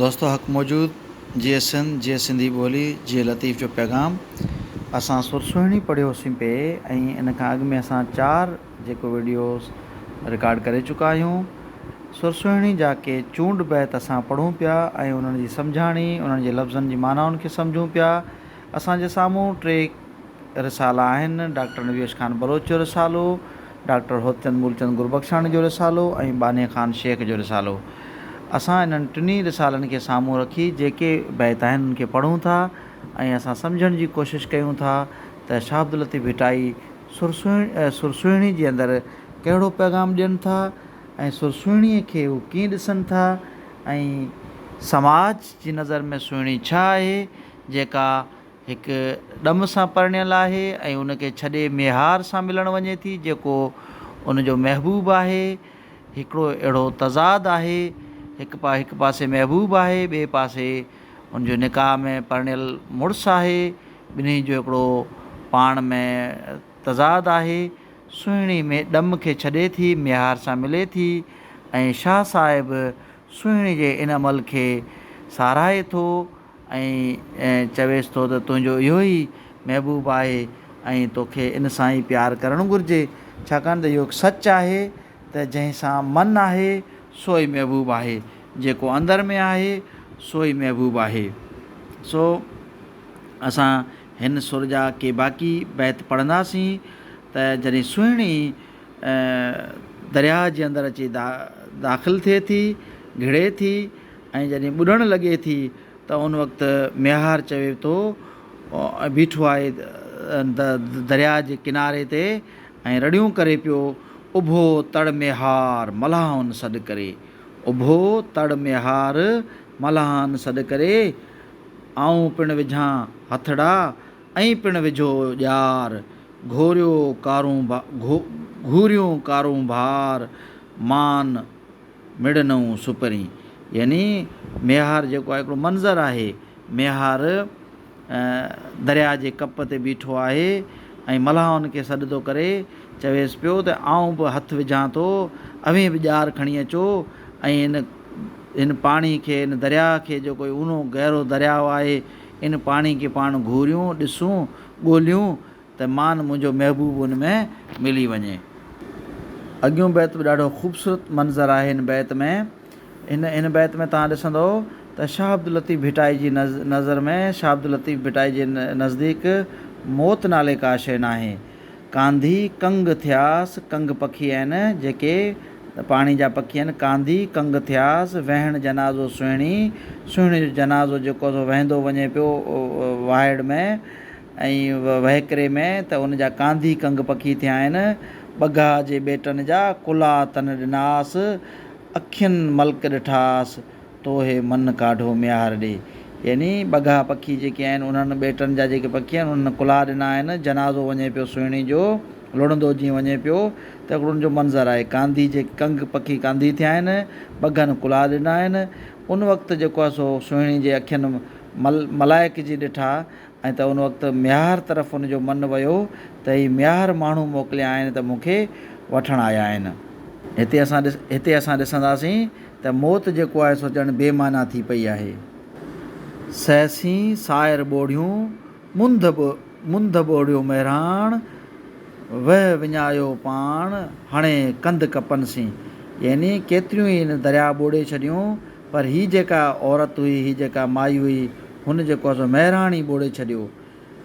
دوستو حق موجود جيئي سنڌ جيئي سنڌي ٻولي جيئي لطيف جو پيغام اسان سر سهڻي پڙهيو سين پي ۽ ان کان اڳ ۾ اسان چار جيڪو ويڊيوز رڪارڊ ڪري چڪا آهيون سر سهڻي جا ڪي چونڊ بيت اسان پڙهون پيا ۽ انهن جي سمجهاڻي انهن جي لفظن جي معنائن کي سمجهون پيا اسان جي سامهون ٽي رسالا آهن، ڊاڪٽر نويش خان بلوچ جو رسالو، ڊاڪٽر هوتچند مولچند گربخشاڻي جو رسالو ۽ ٻانهي خان شيخ جو رسالو. اسان انهن ٽنهي رسالن کي سامهون رکي جيڪي بيت آهن ان کي پڙهون ٿا ۽ اسان سمجهڻ جي ڪوشش ڪيون ٿا ته شاهه عبداللطيف ڀٽائي سرسهڻي جي اندر ڪهڙو پيغام ڏين ٿا ۽ سرسهڻي کي هو ڪيئن ڏسن ٿا ۽ سماج جي نظر ۾ سهڻي ڇا آهي جيڪا هڪ ڏم سان پرڻيل آهي ۽ ان کي ڇڏي ميهار سان ملڻ وڃي ٿي جيڪو ان جو محبوب آهي. هڪڙو اهڙو تضاد آهي. هڪ پا هڪ پاسي محبوب آهي ٻئي پاسي ان جو نڪاح ۾ پرڻيل مڙس آهي. ٻنهي جو هڪڙو پاڻ ۾ تضاد آهي. سهڻي ڏم کي ڇڏي ٿي ميهار سان ملي ٿي ۽ شاهه صاحب سهڻي جي ان عمل کي ساراهي ٿو ۽ چويس ٿو ته تنهنجو اهو ئي محبوب آهي ۽ توکي ان سان ئي پيار ڪرڻ گهرجي ڇاڪاڻ ته اهو هڪ سچ آهي ته جنهن سان من آهي سو ئي محبوب آهي جيڪو اندر ۾ آهي سو ئي محبوب آهي سو اسان هن سر جا ڪي باقي بيت پڙهنداسين. ته جڏهن سهڻي درياهه جي اندر اچي داخل ٿئي ٿي، گهڙي ٿي ۽ جڏهن ٻڏڻ لڳي ٿي ته ان وقت ميهار چوي ٿو ۽ بيٺو آهي درياهه جي ڪناري تي ۽ رڙيون ڪري پيو، اڀو تڙ ميهار ملاحن سڏ ڪري، اڀو تڙ ميهار ملاحن سڏ ڪري، آئون پڻ وجهان هٿڙا ائين پڻ وجهو ڄار، گهوريو ڪارون گهوريون ڪارون بهار، مان مڙ نئون سپرين. يعني ميهار جيڪو آهي هڪڙو منظر آهي، ميهار درياء جي ڪپ تي بيٺو آهي ۽ ملاحن کي سڏ ٿو ڪري، چويس پيو ته آئون به هٿ وجهان ٿو، اوهين به ڄار کڻي اچو ۽ هن هن پاڻي کي، هن درياء کي جيڪو هي اونو گهرو درياء آهي، ان پاڻي کي پاڻ گهوريون، ڏسون، ڳوليون ته مان منهنجو محبوب ان ۾ ملي وڃي. اڳيون بيت به ڏاڍو خوبصورت منظر آهي هن بيت ۾ هن هن بيت ۾ توهان ڏسندو ته شاهه عبداللطيف ڀٽائي جي نظر ۾ شاهه عبداللطيف ڀٽائي جي نزديڪ موت نالي ڪا شيء ناهي ڪانڌي ڪنگ ٿياس ڪنگ پکي آهن جيڪي ته پاڻي جا پکين ڪانڌي ڪنگ ٿياس، وهڻ جنازو سهڻي، سهڻي جو جنازو جيڪو سو وهندو وڃي پيو واهڙ ۾ ۽ وهڪري ۾ ته ان جا ڪانڌي ڪنگ پکي ٿيا آهن، ٻگها جي ٻيٽن جا ڪلها تن ڏناس، اکين ملڪ ڏٺاس، تو هي من ڪاڍو ميهار ڏي. يعني ٻگها پکي جيڪي آهن انهن ٻيٽن جا جيڪي پکي آهن انهن ڪلها ڏنا آهن جنازو وڃي پيو سهڻي جو لڙندو جيئن وڃي پيو ته هڪڙو ان جو منظر آهي ڪانڌي جي ڪنگ پکي ڪانڌي ٿيا آهن ٻگهن ڪلها ڏنا آهن ان وقت جيڪو آهي سو سهڻي جي اکين مل ملائڪجي ڏٺا ائين ته ان وقت ميهار طرف ان جو من ويو ته هي ميهار ماڻهو موڪليا آهن ته مون کي وٺڻ آيا آهن. هتي اسان هتي اسان ڏسنداسين ته موت جيڪو آهي سو ڄڻ بي معنيٰ ٿي پئي آهي. سهسين ساعر ٻوڙيون منڌ ٻو منڌ ٻوڙيو مهراڻ، وهه وڃايو پاڻ هڻي ڪنڌ ڪپن سين. يعني ڪيتريون ئي هن درياهه ٻوڙي ڇڏيون. پر هي جيڪا عورت هئي، هي جيڪا مائي هئي، هن جيڪو آهي سو مهراڻ ئي ٻوڙي ڇڏيو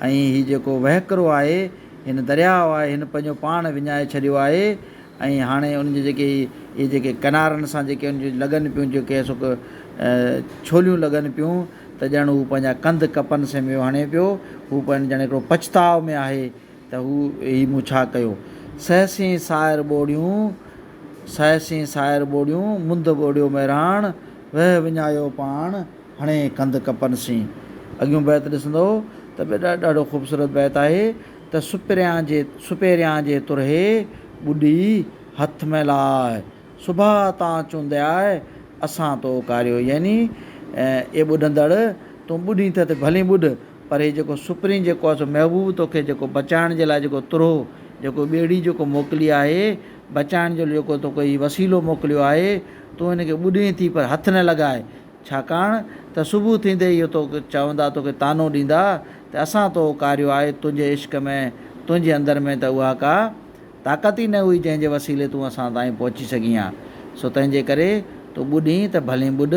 ۽ هي جيڪو وهڪرو آهي، هن درياء آهي، هن پنهنجو پاڻ وڃائي ڇڏيو آهي ۽ هاڻي ان جي جيڪي اهي جيڪي ڪنارن سان جيڪي ان جون لڳن پيون جيڪي سو ڇوليون لڳن پيون ته ڄڻ هو پنهنجا ڪنڌ ڪپن سميو هڻي پيو، هو پنهنجو ڄڻ هڪڙو پڇتاء ۾ آهي. ته هو هي مون ڇا ڪيو. سهسين سائر ٻوڙيون، سهسين سائر ٻوڙيون، منڌ ٻوڙيو مهراڻ، وهه وڃايو پاڻ، هڻي ڪنڌ ڪپن سين. اڳيون بيت ڏسندو ته به ڏاڍو خوبصورت بيت آهي ته سپريان جي سپيريان جي ترهي ٻڏي هٿ ۾ لاء، سڀاء تان چوندياء اسان تو ڪاريو يعني اي ٻڏندڙ تون ٻڏين ته ته ڀلين ٻڏ پر هي جيڪو سپرين جيڪو آهي سو محبوب توکي جيڪو بچائڻ جي لاء جيڪو ترهو جيڪو ٻيڙي جيڪو موڪلي آهي بچائڻ جو جيڪو توکي هي وسيلو موڪليو آهي تون هن کي ٻڏين ٿي پر هٿ نه لڳاء ڇاڪاڻ ته صبح ٿيندي اهو توکي چوندا توکي طعنو ڏيندا ته اسان تو ڪاريو آهي تنهنجي عشق ۾ تنهنجي اندر ۾ ته اها ڪا طاقت ئي نه هئي جنهن جي وسيلي تون اسان تائين پهچي سگهين ها، سو تنهن جي ڪري تون ٻڏين ته ڀلين ٻڏ،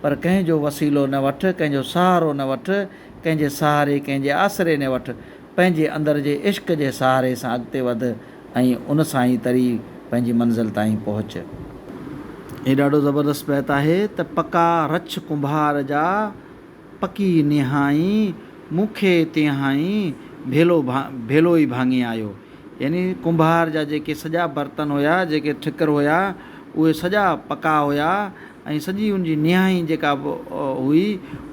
پر ڪنهن جو وسيلو نه وٺ، ڪنهن جو سهارو نه وٺ، ڪنهن جي سهاري، ڪنهن جي آسري نه وٺ، پنهنجي اندر جي عشق جي سهاري سان اڳتي وڌ ۽ ان سان ئي تري پنهنجي منزل تائين پهچ. هي ڏاڍو زبردست بيت آهي ته پڪا رڇ ڪنڀار جا. پڪي نهائين مون کي تنهائين ڀيلو ڀيلو ئي ڀاڱي آيو. يعني ڪنڀار جا جيڪي سڄا برتن هيا، جيڪي ٺڪر هيا، اهي سڄا پڪا هيا ۽ سڄي ان جي نهائين جيڪا به هئي،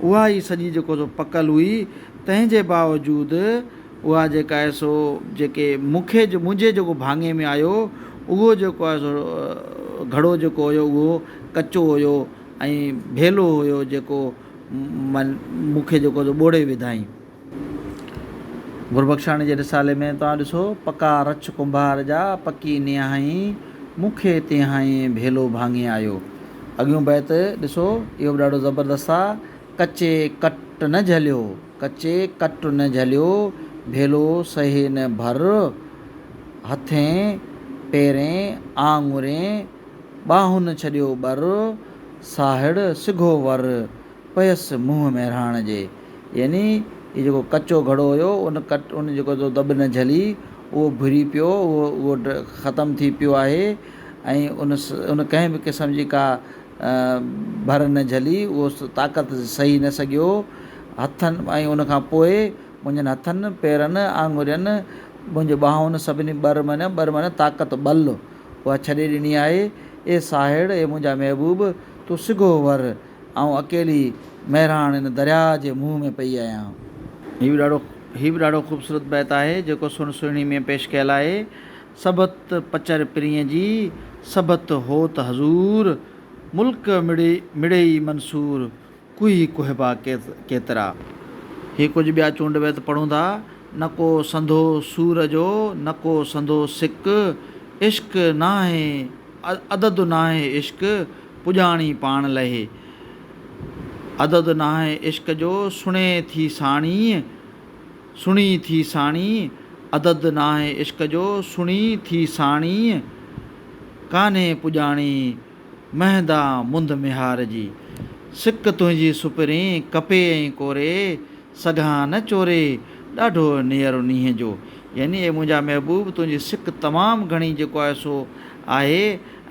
اها ئي سڄي جيڪو سو پڪل هئي، تنهن جي باوجود اها جيڪا آهي سو جيڪي مون کي منهنجي جيڪو ڀاڱي ۾ آيو، اهو جيڪو آهي سو گهڙو جيڪو هيو اهو ڪچو هيو. ائين ڀيلو هيو جيڪو من مون کي جيڪو تو ٻوڙي وڌائين. گربخشاڻي جي رسالي ۾ توهان ڏسو پڪا رڇ ڪنڀار جا پڪي نيهائين مون کي تيهائين ڀيلو ڀاڱي آيو. اڳيون بيت ڏسو اهو به ڏاڍو زبردست آ ڪچي ڪٽ نه جهليو ڪچي ڪٽ نه جهليو ڀيلو سهي نه ڀر هٿين پيرين آڱرين ٻانهن ڇڏيو ٻر، ساهڙ سگهو ور، پيس منهن مهراڻ جي. يعني هي جيڪو ڪچو گهڙو هيو، ان ڪٽ ان جيڪو جو دٻ نه جهلي، اهو ڀري پيو، اهو اهو ختم ٿي پيو آهي ۽ ان ان ڪنهن به قسم جي ڪا ڀر نه جهلي، اهو طاقت سهي نه سگهيو، هٿن ۽ ان کان پوء منهنجن هٿن، پيرن، آڱرين، منهنجي ٻانهن سڀني ٻر معنيٰ ٻر معنيٰ طاقت، ٻل، اها ڇڏي ڏني آهي. اي ساهڙ! اي منهنجا محبوب! تون سگهو ور، آئون اڪيلي مهراڻ ان درياهه جي منهن ۾ پئي آهيان. هي به ڏاڍو هي به ڏاڍو خوبصورت بيت آهي، جيڪو سڻ سهڻي ۾ پيش ڪيل آهي. سڀت پچر پرينء جي، سڀت هوت حضور، ملڪ مڙئي مڙئي منصور. ڪوهي ڪهبا ڪيترا. هي ڪجهه ٻيا چونڊ بيت پڙهون ٿا، نه ڪو سنڌو سور جو، نه ڪو سنڌو سڪ، عشق ناهي عدد ناهي عشق، پڄاڻي پاڻ لهي. عدد ناهي عشق جو، سڻي ٿي ساڻيهه، سڻي ٿي ساڻيهه، عدد ناهي عشق جو، سڻي ٿي ساڻيهه، ڪانهي پڄاڻي مهندا منڌ ميهار جي، سڪ تنهنجي سپرين ڪپي ۽ ڪوري، سگهان نه چوري، ڏاڍو نيئر نينهن جو. يعني اي منهنجا محبوب تنهنجي سڪ تمام گهڻي جيڪو آهي سو آهي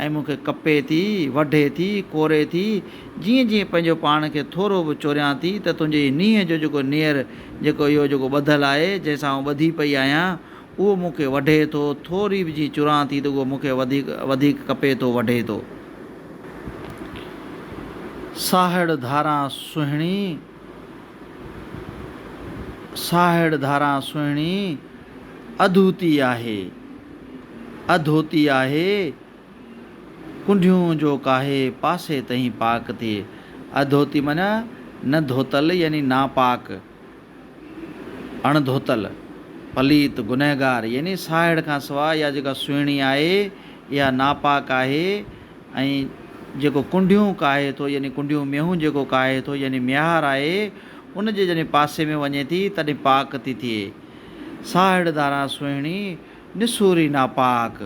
۽ مون کي ڪپي ٿي، وڍي ٿي، ڪوري ٿي، جيئن جيئن پنهنجو پاڻ کي ٿورو به چوريان ٿي ته تنهنجي هي نينهن جو جيڪو نيئر جيڪو اهو جيڪو ٻڌل آهي جنهن سان آئون ٻڌي پئي آهيان اهو مون کي وڍي ٿو، ٿوري به جي چران ٿي ته اهو مون کي وڌيڪ وڌيڪ ڪپي ٿو وڍي ٿو. ساهڙ ڌاران سهڻي، ساهڙ ڌاران سهڻي، اڌوتي آهي، اڌوتي آهي، ڪنڍيون جو ڪاهي، پاسي تهين پاڪ ٿئي. اڌوتي معنيٰ نه ڌوتل يعني ناپاڪ. اڻ ڌوتل، پليت، گنهگار يعني ساهڙ کان سواء اها جيڪا سهڻي آهي، اها ناپاڪ آهي ۽ جيڪو ڪنڍيون ڪاهي ٿو يعني ڪنڍيون مينهون جيڪو ڪاهي ٿو يعني ميهار آهي، ان جي جڏهن پاسي ۾ وڃي ٿي، تڏهن پاڪ ٿي ٿئي. ساهڙ ڌاران سهڻي، نسوري ناپاڪ.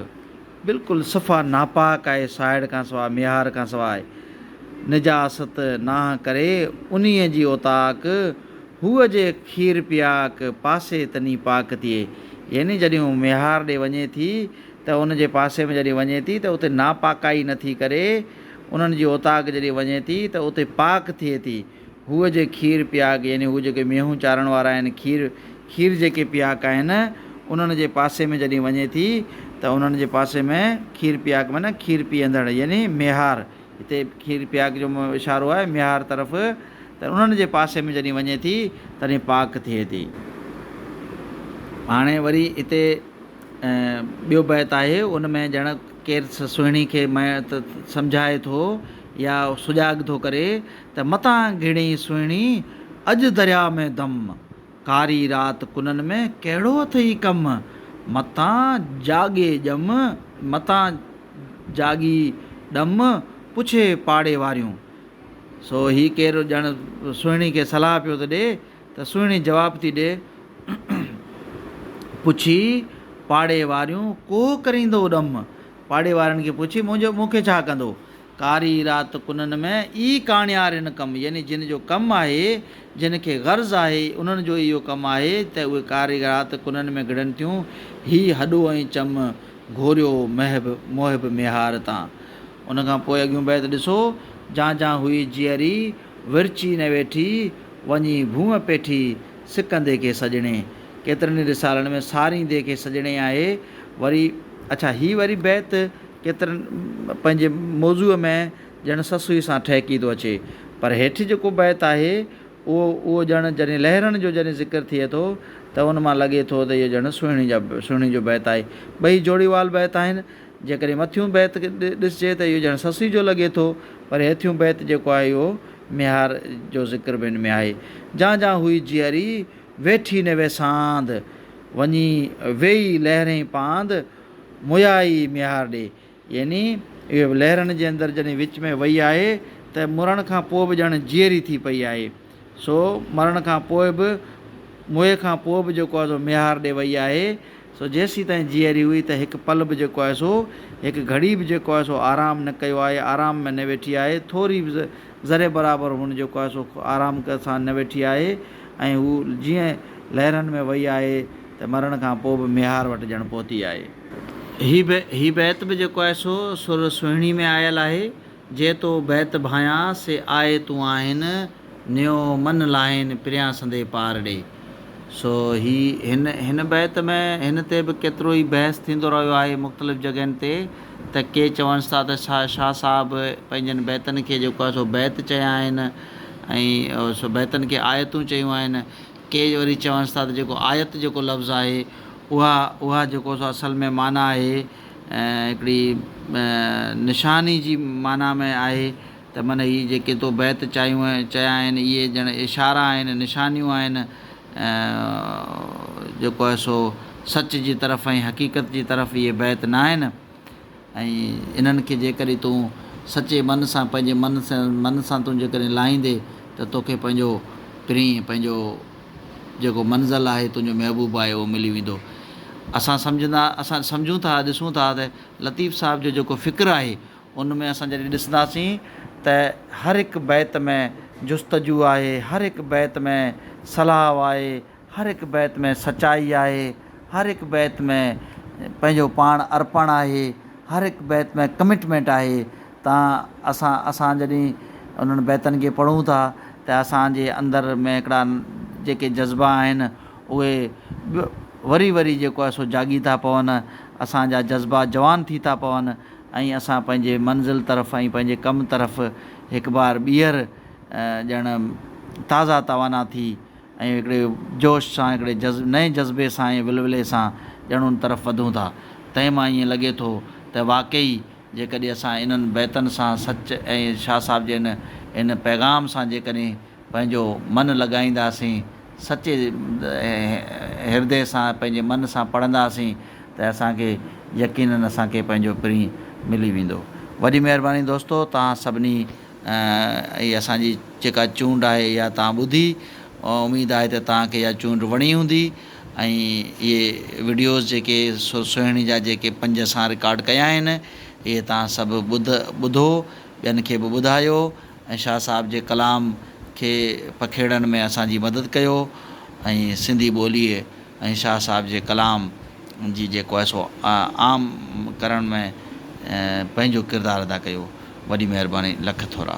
بلڪل صفا ناپاڪ آهي ساهڙ کان سواء ميهار کان سواء نجاست ناهه ڪري انهيء جي اوطاق هوء جي کير پياڪ پاسي تني پاڪ ٿئي يعني جڏهن هو ميهار ڏي وڃي ٿي ته ان جي پاسي ۾ جڏهن وڃي ٿي ته اتي ناپاڪائي نٿي ڪري انهن جي اوطاق جڏهن وڃي ٿي ته اتي پاڪ ٿئي ٿي هوء جي کير پياڪ يعني هو جيڪي مينهون چارڻ وارا آهن کير کير جيڪي پياڪ آهن انهن جي پاسي ۾ جڏهن وڃي ٿي ته انهن جي پاسي ۾ کير پياڪ معنيٰ کير پيئندڙ يعني ميهار هتي کير پياڪ جو اشارو آهي ميهار طرف ته انهن جي پاسي ۾ جڏهن وڃي ٿي تڏهن پاڪ ٿئي ٿي. هاڻي وري هتي ٻيو بيت آهي ان ۾ ڄڻ ڪير سهڻي کي سمجهائي ٿو يا سجاڳ ٿو ڪري ته متان گهڙين سهڻي، اڄ درياء ۾ دم. ڪاري رات ڪنن ۾ ڪهڙو اٿئي ڪم. متان جاڳي ڄم، متان جاڳي ڏم، پڇي پاڙي واريون. سو هي ڪير ڄڻ سهڻي کي صلاح پيو ٿو ڏي ته سهڻي جواب ٿي ڏي، پڇي پاڙي واريون، ڪوهه ڪريندو ڏم. پاڙي وارن کي پڇي، منهنجو مون کي ڇا ڪندو؟ ڪاري رات ڪنن ۾ ئي ڪاڻيارين ڪم يعني جن جو ڪم آهي، جن کي غرض آهي، انهن جو اهو ڪم آهي ته اهي ڪاري رات ڪنن ۾ گهڙن ٿيون، هي هڏو ۽ چم گهوريو محب محب ميهار تان. ان کان پوء اڳيون بيت ڏسو، جان جان هئي جيئري، ورچي نه ويٺي، وڃي ڀونء پيٺي، سڪندي کي سڄڻي. ڪيترن ئي رسالن ۾ ساريندي کي سڄڻي آهي، وري اڇا هي وري بيت ڪيترن پنهنجي موضوع ۾ ڄڻ سسئي سان ٺهڪي ٿو اچي، پر هيٺ جيڪو بيت آهي، اهو اهو ڄڻ جڏهن لهرن جو جڏهن ذڪر ٿئي ٿو ته ان مان لڳي ٿو ته اهو ڄڻ سهڻي جا سهڻي جو بيت آهي. ٻئي جوڙي وال بيت آهن. جيڪڏهن مٿيون بيت ڏسجي ته اهو ڄڻ سسئي جو لڳي ٿو، پر هيٺيون بيت جيڪو آهي اهو ميهار جو ذڪر به ان ۾ آهي. جان جان هئي جيئري، ويٺي نوي ساند، وڃي ويئي لهرين پاند، مويا ئي ميهار ڏي. يعني اهي لهرن جي اندر جڏهن وچ ۾ وئي آهي ته مرڻ کان پوء به ڄڻ جيئري ٿي پئي آهي. سو مرڻ کان پوء به موئي کان پوء به جيڪو آهي سو ميهار ڏي وئي آهي. سو جيسيتائين جيئري هئي ته هڪ پل به جيڪو آهي سو هڪ گهڙي به جيڪو آهي سو آرام نه ڪيو آهي، آرام ۾ نه ويٺي آهي. ٿوري به ذري برابر هن جيڪو آهي سو آرام سان نه ويٺي آهي ۽ هو جيئن لهرن ۾ وئي آهي. ته مرڻ کان پوء به ميهار وٽ ڄڻ پهتي آهي. هي به هي بيت به جيڪو آهي سو سر سهڻي ۾ آيل آهي، جي تو بيت ڀانيان، سي آء تون آهين، نيو من لاهين، پريان سندي پار ڙي. سو هي هن هن بيت ۾ هن تي به ڪيترو ئي بحث ٿيندو رهيو آهي مختلف جڳهين تي ته ڪي چونس ٿا ته شا شاهه صاحب پنهنجن بيتن کي جيڪو آهي سو بيت چيا آهن ۽ سو بيتن کي آيتون چيون آهن ڪي وري چونس ٿا ته جيڪو آيت جيڪو لفظ آهي اها اها جيڪو سو اصل ۾ معنيٰ آهي هڪڙي نشاني جي معنيٰ ۾ آهي ته من هي جيڪي تو بيت چايون آهن چيا آهن اهي ڄڻ اشارا آهن نشانيون آهن جيڪو آهي سو سچ جي طرف ۽ حقيقت جي طرف اهي بيت ناهن ۽ انهن کي جيڪڏهن تون سچي من سان پنهنجي من سان تون جيڪڏهن لاهيندي ته توکي پنهنجو پرينء، پنهنجو جيڪو منزل آهي، تنهنجو محبوب آهي اهو ملي ويندو. اسان سمجهندا، اسان سمجهون ٿا، ڏسون ٿا ته لطيف صاحب جو جيڪو فڪر آهي ان ۾ اسان جڏهن ڏسنداسين ته هر هڪ بيت ۾ جستجو آهي، هر هڪ بيت ۾ صلاح آهي، هر هڪ بيت ۾ سچائي آهي، هر هڪ بيت ۾ پنهنجو پاڻ ارپڻ آهي، هر هڪ بيت ۾ ڪمٽمينٽ آهي تان اسان اسان جڏهن انهن بيتن کي پڙهون ٿا ته اسان جي اندر ۾ هڪڙا جيڪي جذبا آهن اهي ٻيو وري وري جيڪو آهي سو جاڳي ٿا پون، اسان جا جذبا جوان ٿي ٿا پون ۽ اسان پنهنجي منزل طرف ۽ پنهنجي ڪم طرف هڪ بار ٻيهر ڄڻ تازا توانا ٿي ۽ هڪڙي جوش سان، هڪڙي نئين جذبي سان ۽ ولولي سان ڄڻ ان طرف وڌون ٿا. تنهن مان ائين لڳي ٿو ته واقعي جيڪڏهن اسان انهن بيتن سان سچ ۽ شاهه صاحب جي ان ان پيغام سان جيڪڏهن پنهنجو من لڳائينداسين، سچي هردي سان، پنهنجي من سان پڙهنداسين ته اسان کي يقينن اسان کي پنهنجو پرينء ملي ويندو. وڏي مهرباني دوستو توهان سڀني. هي اسان جي جيڪا چونڊ آهي اها توهان ٻڌي اميد آهي ته توهان کي اها چونڊ وڻي هوندي ۽ اهي وڊيوز جيڪي سر سهڻي جا جيڪي پنج اسان رڪارڊ ڪيا آهن اهي توهان سڀ ٻڌ ٻڌو ٻين کي به ٻڌايو ۽ شاهه صاحب جي ڪلام کي پکيڙڻ ۾ اسان جي مدد ڪيو ۽ سنڌي ٻوليء ۽ شاهه صاحب جي ڪلام جي جيڪو آهي سو عام ڪرڻ ۾ پنهنجو ڪردار ادا ڪيو وڏي مهرباني لک ٿورا.